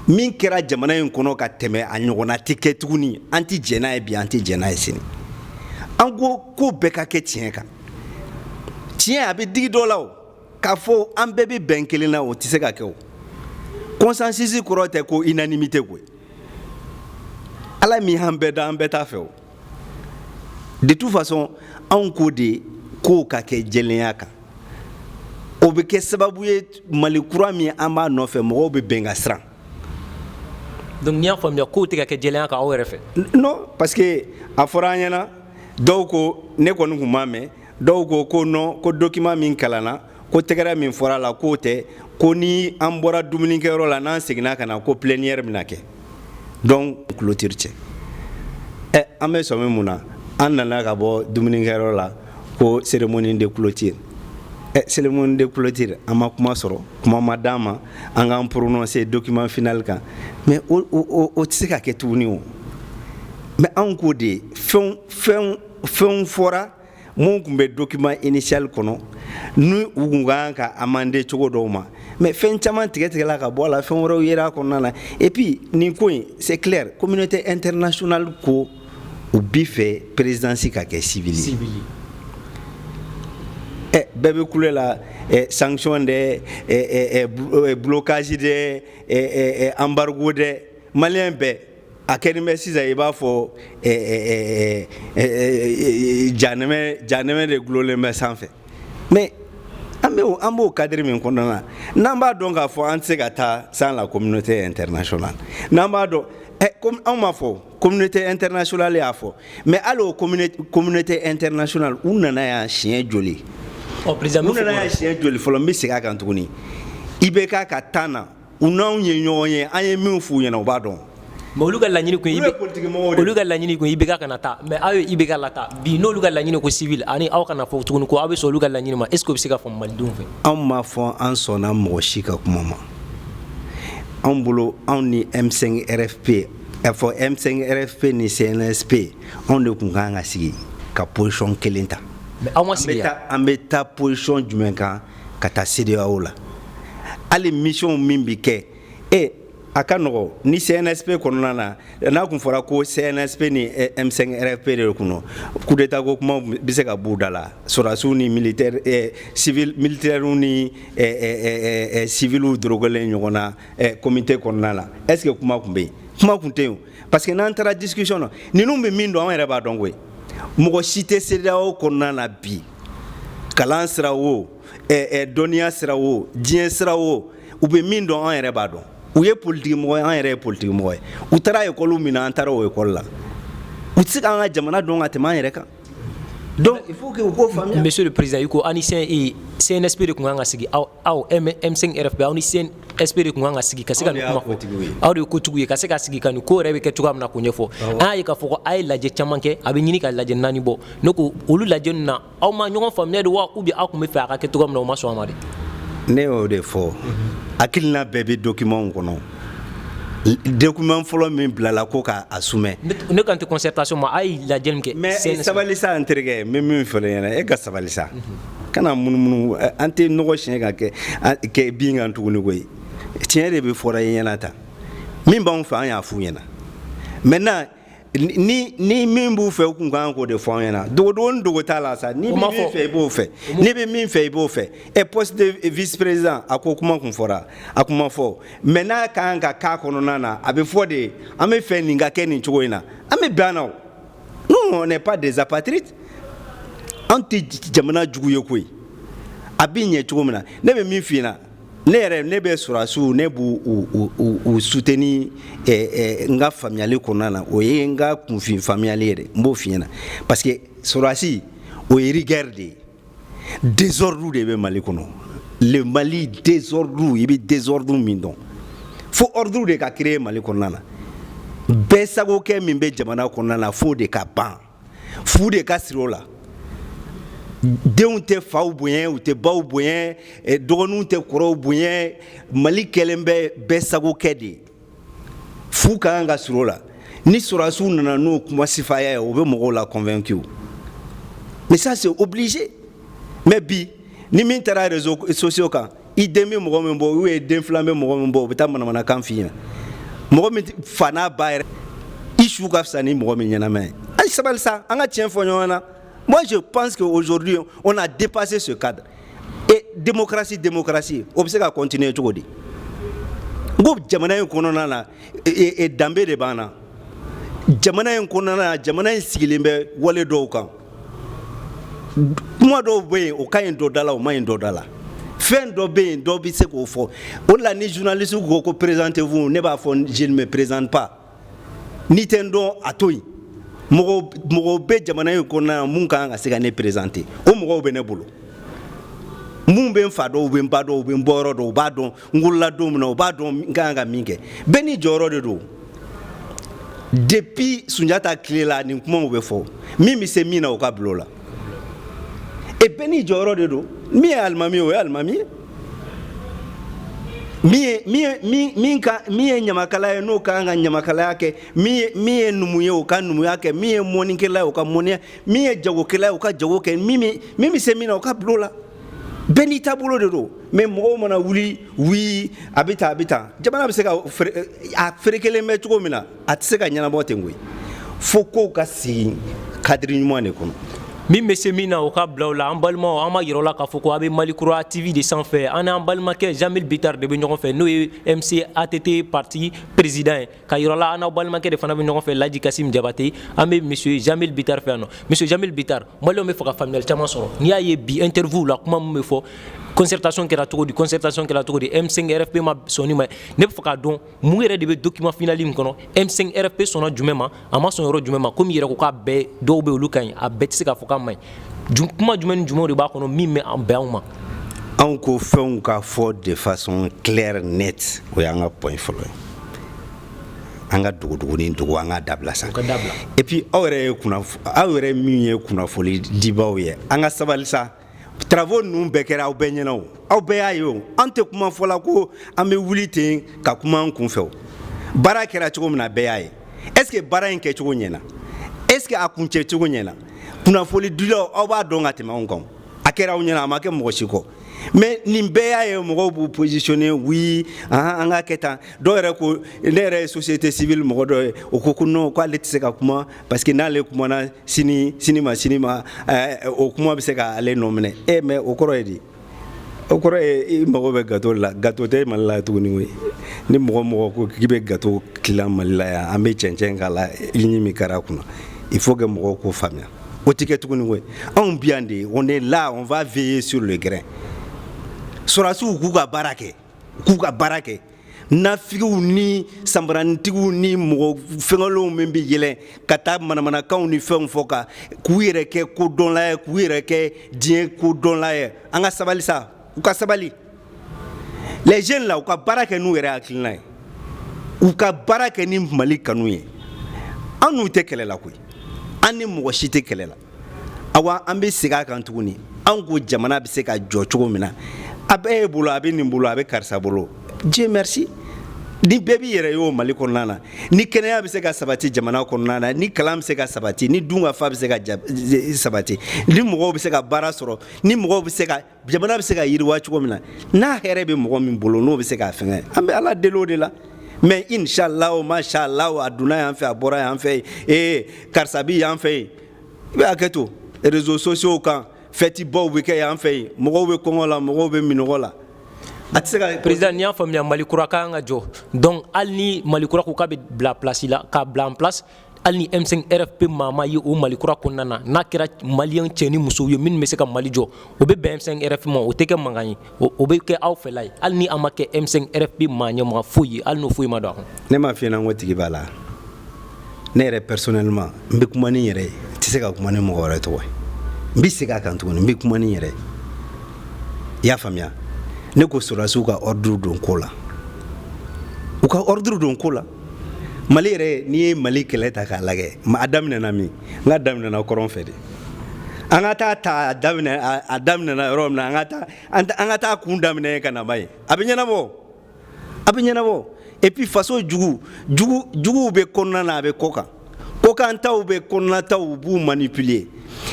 min kɛra jamana in kɔnɔ ka tɛmɛ a ɲɔgɔnna tɛ kɛ tuguni an tɛ jɛn n'a ye bi an tɛ jɛn n'a ye sini an ko ko bɛɛ ka kɛ tiɲɛ kan tiɲɛ a bɛ digi dɔ la o k'a fɔ an bɛɛ bɛ bɛn kelen na o tɛ se ka kɛ o consensus kɔrɔ tɛ ko unanimité koyi ala min y'an bɛɛ da an bɛɛ t'a fɛ o de toute façon anw ko de kow ka kɛ jɛlenya kan o bɛ kɛ sababu ye mali kura min an b'a nɔfɛ mɔgɔw bɛ bɛn ka siran donc n'i y'a faamuya kow tɛ ka kɛ jɛlenya kan aw yɛrɛ fɛ non parce que a fɔra an ɲɛna dɔw ko ne kɔni kun m'a mɛn dɔw ko ko non ko document min kalanna ko tɛgɛrɛ min fɔra a la k'o tɛ ko ni an bɔra dumunikɛyɔrɔ la n'an seginna ka na ko plénière bɛna kɛ donc clôture cɛ ɛ an bɛ sɔmi mun na an nana ka bɔ dumunikɛyɔrɔ la ko cérémonie de clôture ɛ cérémonie de clôture an ma kuma sɔrɔ kuma ma d'an ma an k'an prononcer document final kan mais o tɛ se ka kɛ tuguni o mais anw ko de fɛn fɛn fɛnw fɔra mun kun bɛ document initial kɔnɔ ni u kun ka kan ka amender cogo dɔw ma mais fɛn caman tigɛtigɛla ka bɔ a la fɛn wɛrɛw yera a kɔnɔna na et puis nin ko in c'est clair communauté internationale ko u bi fɛ présidence ka kɛ civil ye ɛ bɛɛ bɛ kule la ɛ sanction dɛ ɛ ɛ blocage dɛ ɛ ɛ embargo dɛ maliyɛn bɛɛ a kɛlen bɛ sisan i b'a fɔ janɛmɛ janɛmɛ de gulonlen bɛ sanfɛ mais an bɛ an b'o cadre min kɔnɔna na n'an b'a dɔn k'a fɔ an tɛ se ka taa sans la communauté internationale n'an b'a dɔn ɛ comme anw m'a fɔ communauté internationale y'a fɔ mais hali o communauté internationale u nana yan siɲɛ joli u nana yan siɲɛ joli fɔlɔ n bɛ segin a kan tuguni IBK ka temps na u n'anw ye ɲɔgɔn ye an ye min f'u ɲɛna u b'a dɔn mais olu ka laɲini kun ye Olu ye politique mɔgɔw de ye. olu ka laɲini kun ye IBK kana taa mais aw ye IBK lataa bi n'olu ka laɲini ko civil ani aw kana fɔ tuguni ko aw bɛ sɔn olu ka laɲini ma est ce que o bɛ se ka faamu malidenw fɛ anw m'a fɔ an sɔnna mɔgɔ si ka kuma ma anw bolo anw ni m5 rfp a fɔ m5 rfp ni cnsp anw de kun ka kan ka sigi ka position kelen ta mais aw ma sigi yan an bɛ taa position jumɛn kan ka taa CEDEAO la hali mission min bɛ kɛ e a ka nɔgɔ ni CNSP kɔnɔna na n'a kun fɔra ko CNSP ni M5 RFP de kun don coup d'état ko kuma bɛ se ka b'u da la sɔrɔdasiw ni militaire eh, civil militaires ni eh, eh, eh, civiliw dorogelen ɲɔgɔn na eh, comité kɔnɔna la est ce que kuma kun bɛ yen kuma kun tɛ yen parce que n'an taara discussion na ninnu bɛ min dɔn an yɛrɛ b'a dɔn koyi mɔgɔ si tɛ CEDEAO kɔnɔna na bi kalan sira o dɔnniya sira o diɲɛ sira o u bɛ min dɔn an yɛrɛ b'a dɔn u ye politikimɔgɔ ye an yɛrɛ ye politikimɔgɔ ye u taara ekɔli min na an taara o ekɔli la u tɛ se k'an ka jamana dɔn ka tɛmɛ an yɛrɛ kan donc il faut que u k'o faamuya monsieur le président i ko aw ni CNSP de kun kan ka sigi aw aw M5 RFP aw ni CN SP de kun kan ka sigi ka se ka nin kuma fɔ aw de ye kotigiw ye ka se ka sigi ka nin ko yɛrɛ bɛ kɛ cogoya min na k'o ɲɛfɔ an y'a ye k'a fɔ ko a ye lajɛ caman kɛ a bɛ ɲini ka lajɛ naani bɔ ne ko olu lajɛ ninnu na aw ma ɲɔgɔn faamuya de wa ou bien aw kun b'a fɛ a ka kɛ cogoya min na u ma sɔn a ma de ne y'o de fɔ hakilina bɛɛ bɛ document kɔnɔ document fɔlɔ min bilala ko k'a soumet ne kan tɛ concertation ma a ye lajɛ min kɛ mais sabali sa n terikɛ n bɛ min fɔ e ɲɛna e ka sabali sa mhm. kana munumunu an tɛ nɔgɔ siɲɛ ka kɛ kɛ bin kan tuguni koyi tiɲɛ de bɛ fɔra i ɲɛna tan min b'an fɛ an y'a f'u ɲɛna maintenant ni ni min b'u fɛ u kun kan k'o de fɔ an ɲɛna dogodogoni dogo t'a la sa n'i bɛ min fɛ i b'o fɛ n'i bɛ min fɛ i b'o fɛ ɛ poste de vice président a ko kuma kun fɔra a kuma fɔ mais n'a ka kan ka k'a kɔnɔna na a bɛ fɔ de an b'a fɛ nin ka kɛ nin cogo in na an bɛ bɛn a na o nous on n'est pas des apatrides an tɛ jamana jugu ye koyi a bɛ ɲɛ cogo min na ne bɛ min f'i ɲɛna ne yɛrɛ ne bɛ sɔrɔdasiw ne b'u u u u soutenir ɛ ɛ n ka faamuyali kɔnɔna na o ye n ka kunfin faamuyali ye dɛ n b'o f'i ɲɛna parce que sɔrɔdasi o ye rigueur de ye. désordre de bɛ mali kɔnɔ le mali désordre i bɛ désordre min dɔn fo ordre de ka créer mali kɔnɔna na bɛɛ sagokɛ min bɛ jamana kɔnɔna na f'o de ka ban fu de ka siri o la denw tɛ faw bonya u tɛ baw bonya eh, dɔgɔninw tɛ kɔrɔw bonya mali kɛlen bɛ bɛɛ sagokɛ de ye fu ka kan ka siri o la ni sɔrɔdasiw nana n'o kuma sifaya ye o bɛ mɔgɔw la convaincu mais ça c'est obligé mais bi ni min taara réseaux sociaux kan i den bɛ mɔgɔ min bɔ ou bien den filan bɛ mɔgɔ min bɔ o bɛ taa manamanakan f'i ɲɛna mɔgɔ min fa n'a ba yɛrɛ i su ka fisa ni mɔgɔ min ɲɛnama ye a ye sabali sa an ka tiɲɛ fɔ ɲɔgɔn na moi je pense que aujourd'hui on a dépassé ce cadre e démocratie démocratie o bɛ se ka continuer cogo di n ko jamana in kɔnɔna na danbe de b'an na jamana in kɔnɔna na jamana in sigilen bɛ wale dɔw kan kuma dɔw bɛ yen o ka ɲi dɔ da la o man ɲi dɔ da la fɛn dɔ bɛ yen dɔ bɛ se k'o fɔ o de la ni journaliste ko ko présentez-vous ne b'a fɔ je ne me présente pas N'i tɛ n dɔn a to yen mɔgɔw bɛ jamana in kɔnɔna na minnu ka kan ka se ka ne présenter o mɔgɔw bɛ ne bolo minnu bɛ n fa dɔn u bɛ n ba dɔn u bɛ n bɔyɔrɔ dɔn u b'a dɔn n wolola don min na u b'a dɔn n ka kan ka min kɛ bɛɛ n'i jɔyɔrɔ de don depuis sunjata tile la nin kumaw bɛ fɔ min bɛ se min na o ka bila o la e bɛɛ n'i jɔyɔrɔ de don min ye alimami ye o ye alimami ye min ye min ye min min ka min ye ɲamakala ye n'o ka kan ka ɲamakalaya kɛ min ye min ye numu ye o ka numuya kɛ min ye mɔnikɛla ye o ka mɔniya min ye jagokɛla ye o ka jago kɛ min bɛ min bɛ se min na o ka bila o la bɛɛ n'i taabolo de don mais mɔgɔw mana wuli wii a bɛ tan a bɛ tan jamana bɛ se ka fere a ferekelen bɛ cogo min na a tɛ se ka ɲɛnabɔ ten koyi fo kow ka sigi cadre ɲuman de kɔnɔ min bɛ se min na o ka bila o la an balimaw an b'a yira aw la k'a fɔ ko a bɛ mali kura tv de sanfɛ an n'an balimakɛ jamil bitar de bɛ ɲɔgɔn fɛ n'o ye mc att parti président ye k'a yira aw la an n'aw balimakɛ de fana bɛ ɲɔgɔn fɛ laji kasim jabate an bɛ monsieur jamil bitar fɛ yan nɔ monsieur jamil bitar malienw bɛ fɛ ka faamuyali caman sɔrɔ n'i y'a ye bi interview la kuma min bɛ fɔ concertation kɛra cogo di concertation kɛra cogo di m5 rfp ma sɔn nin ma ne bɛ fɛ k'a dɔn mun yɛrɛ de bɛ document final nin kɔnɔ M5 RFP sɔnna jumɛn ma a ma sɔn yɔrɔ jumɛn ma komi i yɛrɛ ko k'a bɛɛ dɔw bɛ olu ka ɲi a bɛɛ tɛ se ka fɔ k'a man ɲi kuma jumɛn ni jumɛnw de b'a kɔnɔ min ma bɛn aw ma anw ko fɛnw ka fɔ de façon claire nette o y'an ka point fɔlɔ ye an ka dogodogoni dogo an k'a dabila sa et puis aw yɛrɛ ye kunnafo aw yɛrɛ min ye kunnafoli dibaaw ye an ka sabali sa Travaux ninnu bɛɛ kɛra aw bɛɛ ɲɛna o aw bɛɛ y'a ye o an tɛ kuma fɔ la ko an bɛ wuli ten ka kuma an kun fɛ baara kɛra cogo min na bɛɛ y'a ye est-ce que baara in kɛcogo ɲɛna est-ce que a kuncɛ cogo ɲɛna kunnafoni dilaw aw b'a dɔn ka tɛmɛ anw kan a kɛra aw ɲɛna a ma kɛ mɔgɔ si kɔ mais nin bɛɛ y'a ye mɔgɔw b'u positionner oui an k'a kɛ tan dɔw yɛrɛ ko ne yɛrɛ ye société civile mɔgɔ dɔ ye o ko non k'ale ale tɛ se ka kuma parce que n'ale kumana sini sini ma sini ma eh, o kuma bɛ se ka ale nɔ minɛ e eh, mais o kɔrɔ ye di o kɔrɔ ye i mago bɛ gato la gato tɛ mali la tuguni koyi ni mɔgɔ mɔgɔ ko k'i bɛ gato tilan mali la yan an bɛ cɛncɛn k'a la i ɲi min kɛra a kunna il faut que mɔgɔw k'o faamuya o tɛ kɛ tuguni koyi anw bi yan de on est là on va veiller sur le grain sɔrɔdasiw k'u ka baara kɛ k'u ka baara kɛ nafigiw ni sanbaranitigiw ni mɔgɔ fɛngɛlenw min bɛ yɛlɛn ka taa manamanakanw ni fɛnw fɔ ka k'u yɛrɛ kɛ kodɔnla ye k'u yɛrɛ kɛ diɲɛ kodɔnla ye an ka sabali sa u ka sabali les jeunes là u ka baara kɛ n'u yɛrɛ hakilina ye u ka baara kɛ ni mali kanu ye an n'u tɛ kɛlɛ la koyi an ni mɔgɔ si tɛ kɛlɛ la awa an bɛ segin a kan tuguni an ko jamana bɛ se ka jɔ cogo min na a bɛ e bolo a bɛ nin bolo a bɛ karisa bolo dieu merci ni bɛɛ b'i yɛrɛ y'o mali kɔnɔna na ni kɛnɛya bɛ se ka sabati jamana kɔnɔna na ni kalan bɛ se ka sabati ni dunkafa bɛ se ka sabati ni mɔgɔw bɛ se ka baara sɔrɔ ni mɔgɔw bɛ se ka jamana bɛ se ka yiriwa cogo min na n'a hɛrɛ bɛ mɔgɔ min bolo n'o bɛ se k'a fɛngɛ an bɛ ala deli o de la mais inshallah o mashallah a donna yan fɛ a bɔra yan fɛ ee karisa bi yan fɛ yen i bɛ hakɛ to réseaux sociaux kan fɛtibaw bɛ kɛ yan fɛ yen mɔgɔw bɛ kɔngɔ la mɔgɔw bɛ minnɔgɔ la a tɛ se ka président n'i y'a faamuya mali kura ka kan ka jɔ donc hali ni mali kura ko k'a bɛ bila place la k'a bila en place hali ni M5 RFP maa ma ye o Mali kura kɔnɔna na n'a kɛra maliyɛn cɛ ni musow ye minnu bɛ se ka Mali jɔ o bɛ bɛn M5 RFP ma o tɛ kɛ mankan ye o bɛ kɛ aw fɛla ye hali ni a ma kɛ M5 RFP maa ɲɛmɔgɔ foyi ye hali n'o foyi ma don a kɔnɔ. Ne m'a f'i ɲɛna n ko tigi b'a la ne yɛrɛ personnellement n bɛ kuma ni n yɛrɛ ye n tɛ se ka kuma ni mɔgɔ wɛrɛ tɔgɔ ye n bɛ segin a kan tuguni n bɛ kuma ni n yɛrɛ ye i y'a faamuya ne ko sɔrɔdasiw ka ordre don ko la u ka ordre don ko la. mali yɛrɛ n'i ye mali kɛlɛ ta k'a lagɛ a daminɛna min n k'a daminɛna kɔrɔn fɛ de an ka taa ta a daminɛ a daminɛna yɔrɔ min na an ka taa an ka taa kun daminɛ ka na ba ye a bɛ ɲɛnabɔ a bɛ ɲɛnabɔ et puis faso jugu jugu juguw bɛ kɔnɔna na a bɛ kɔkan kɔkantaw bɛ kɔnɔnataw u b'u manipuler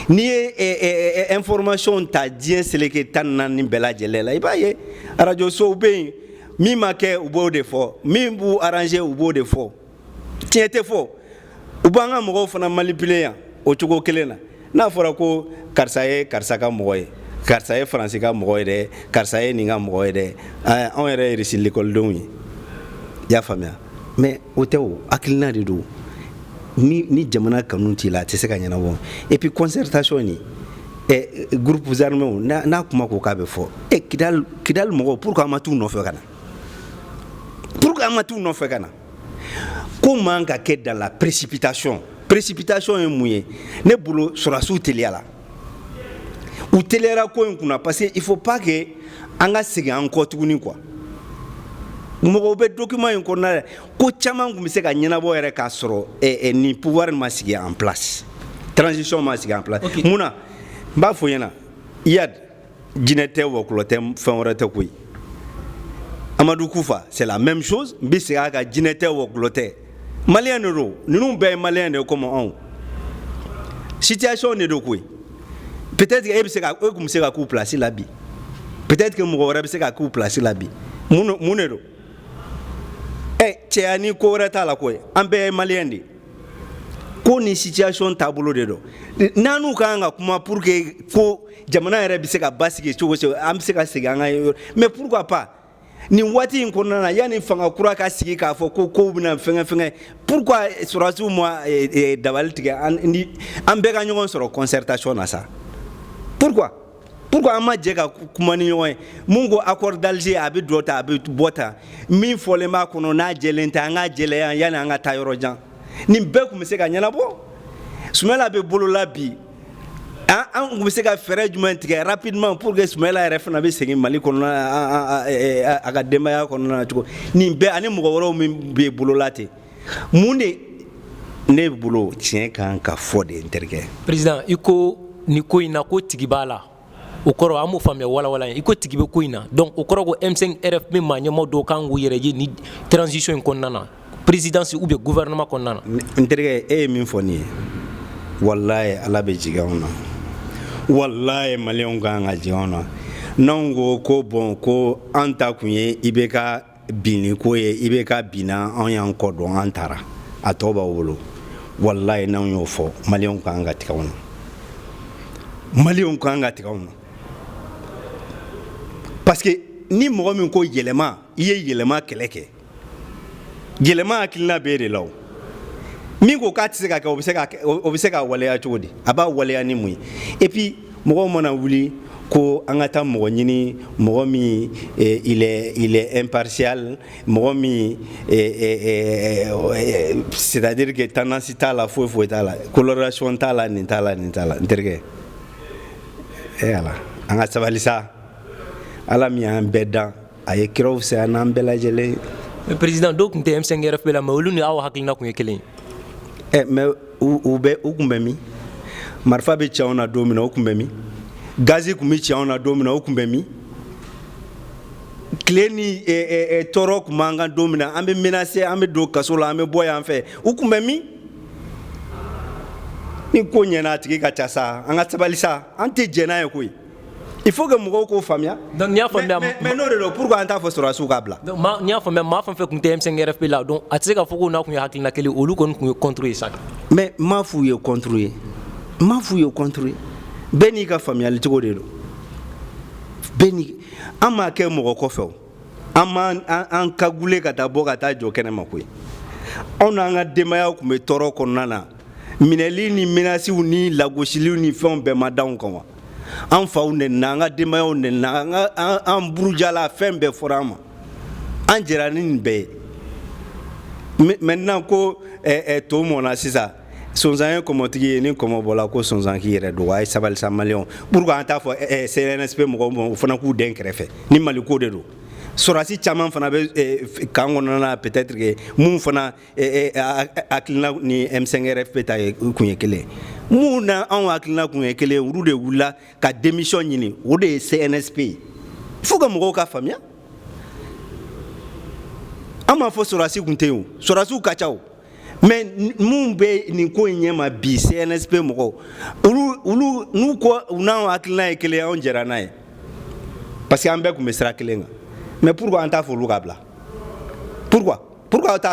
n'i ye information ta diɲɛ seleke tan ni naani bɛɛ lajɛlen la i b'a ye arajosow bɛ yen min ma kɛ u b'o de fɔ min b'u arranger u b'o de fɔ tiɲɛ tɛ fɔ u b'an ka mɔgɔw fana manipuler yan o cogo kelen na n'a fɔra ko karisa ye karisa ka mɔgɔ ye karisa ye faransi ka mɔgɔ ye dɛ karisa ye nin ka mɔgɔ ye dɛ anw yɛrɛ ye irisi lekɔlidenw ye i y'a faamuya mais o tɛ o hakilina de don ni ni jamana kanu t'i la a tɛ se ka ɲɛnabɔ et puis concertation ni eh, groupes armés n'a n'a kuma ko k'a bɛ fɔ eh, Kidal Kidal mɔgɔw pourquoi an ma t'u nɔfɛ ka na pourquoi an ma t'u nɔfɛ ka na ko man ka kɛ dans la précipitation précipitation ye mun ye ne bolo sɔrɔdasiw teliyara u teliyara ko in kunna parce que il faut pas que an ka segin an kɔ tuguni quoi mɔgɔw bɛ document in kɔnɔna la ko caman tun bɛ se ka ɲɛnabɔ yɛrɛ k'a sɔrɔ eh, eh, nin pouvoir ma sigi en place transition ma sigi en place okay. mun na n b'a fɔ i ɲɛna iyad jinɛ tɛ wɔkulɔ tɛ fɛn wɛrɛ tɛ koyi amadu kufa c'est la même chose n bɛ segin a kan jinɛ tɛ wɔkulɔ tɛ maliyɛn de don ninnu bɛɛ ye maliyɛn de ye comme anw situation de don koyi peut-être que e bɛ se ka e tun bɛ se ka k'u place la bi peut-être que mɔgɔ wɛrɛ bɛ se ka k'u place la bi mun mun de don ɛ cɛya ni ko wɛrɛ t'a la koyi an bɛɛ ye maliyɛn de ye ko ni situation taabolo de don n'an n'u ka kan ka kuma pour que ko jamana yɛrɛ bɛ se ka basigi cogo cogo an bɛ se ka segin an ka yɔrɔ mais pourquoi pas nin waati in kɔnɔna na yanni fanga kura ka sigi k'a fɔ ko kow bɛna fɛngɛ fɛngɛ pourquoi sɔrɔdasiw ma eh, eh, dabali tigɛ an ni an bɛɛ ka ɲɔgɔn sɔrɔ concertation na sa pourquoi pourquoi an ma jɛ ka kuma ni ɲɔgɔn ye mun ko accord d'alger a bɛ dɔ ta a bɛ bɔ ta min fɔlen b'a kɔnɔ n'a jɛlen tɛ an k'a jɛlɛya yanni an ka taa yɔrɔ jan nin bɛɛ tun bɛ se ka ɲɛnabɔ sumayila bɛ bolola bi an an tun bɛ se ka fɛɛrɛ jumɛn tigɛ rapidement pour que sumayila yɛrɛ fana bɛ segin mali kɔnɔna a ka denbaya kɔnɔna na cogo nin bɛɛ ani mɔgɔ wɛrɛw min bɛ bolola ten mun de ne bolo tiɲɛ kan ka fɔ dɛ n terikɛ président i ko nin ko in na ko tigi b'a la o kɔrɔ an m'o faamuya walawala ye i ko tigi bɛ ko in na donc o kɔrɔ ko m5 rfp maa ɲɛmaa dɔw kan k'u yɛrɛ ye nin transition in kɔnɔna na présidence ou bien gouvernement kɔnɔna na n terikɛ e ye min fɔ nin ye walaye ala bɛ jigin anw na walaye maliyɛnw ka kan ka jigin anw na n'anw ko ko bon ko an ta kun ye ibk binni ko ye ibk binna anw y'an kɔ don an taara a tɔ b'aw bolo walayi n'anw y'o fɔ maliyɛnw ka kan ka tigɛ anw na maliyɛnw ka kan ka tigɛ anw na parce que ni mɔgɔ min ko yɛlɛma i ye yɛlɛma kɛlɛ kɛ yɛlɛma hakilina bɛ e de la o min ko k'a tɛ se ka kɛ o bɛ se ka o bɛ se ka waleya cogo di a b'a waleya ni mun ye et puis mɔgɔw mana wuli ko an ka taa mɔgɔ ɲini mɔgɔ min eh, il est il est impartial mɔgɔ min eh, eh, c'est à dire que tendance t'a la foyi foyi t'a la coloration t'a la nin t'a la nin t'a la n terikɛ e ala an ka sabali sa ala min y'an bɛɛ dan a ye kiraw fisaya n'an bɛɛ lajɛlen ye président dɔw tun tɛ m5 rfp la mais olu ni aw hakilina tun ye kelen ye ɛ mais u bɛ u tun bɛ min marifa bɛ ci anw na don min na u tun bɛ min gazi tun bɛ ci anw na don min na u tun bɛ min tile ni tɔɔrɔ tun b'an kan don min na an bɛ menase an bɛ don kaso la an bɛ bɔ yan fɛ u tun bɛ min ni ko ɲɛna a tigi ka ca sa an ka sabali sa an tɛ jɛn n'a ye koyi il faut que mɔgɔw k'o faamuya donc n'i y'a faamuya mais, mais, mais n'o de don pourquoi an t'a fɔ sɔrɔdasiw k'a bila donc n'i y'a faamuya maa fɛn fɛn tun tɛ M5 RFP la donc a tɛ se k'a fɔ k'o n'a tun ye hakilina kelen olu kɔni tun ye contre ye sa mais n m'a f'u ye contre ye n m'a f'u ye contre ye bɛɛ n'i ka faamuyali cogo de don bɛɛ n'i an m'a kɛ mɔgɔ kɔfɛ o an m'an an an kagule ka taa bɔ ka taa jɔ kɛnɛ ma koyi anw n'an ka denbayaw tun bɛ tɔɔrɔ kɔnɔna na minɛli ni menasiw ni lagosiliw ni fɛnw bɛɛ ma d'anw kan wa an faw nɛnina an ka denbayaw nɛnina an ka an an burujala fɛn bɛɛ fɔra an ma an jɛra ni nin bɛɛ ye maintenant ko eh, eh, to mɔna sisan sonsan ye kɔmɔtigi ye ni kɔmɔ bɔla ko sonsan k'i yɛrɛ dogo a ye sabali sa maliyɛnw pourquoi an t'a fɔ cnsp mɔgɔw ma o fana k'u den kɛrɛfɛ ni maliko de don sɔrɔdasi caman fana bɛ kan kɔnɔna na peut-être que minnu fana hakilina ni M5RFP ta kun ye kelen minnu n'anw hakilina kun ye kelen olu de wulila ka démission ɲini o de ye CNSP ye il faut que mɔgɔw k'a faamuya an m'a fɔ sɔrɔdasi kun tɛ yen o sɔrɔdasiw ka ca o mais minnu bɛ nin ko in ɲɛma bi CNSP mɔgɔw olu olu n'u ko u n'anw hakilina ye kelen anw jɛra n'a ye parce que an bɛɛ tun bɛ sira kelen kan mais pourquoi an t'a fɔ olu k'a bila pourquoi pourquoi aw t'a fɔ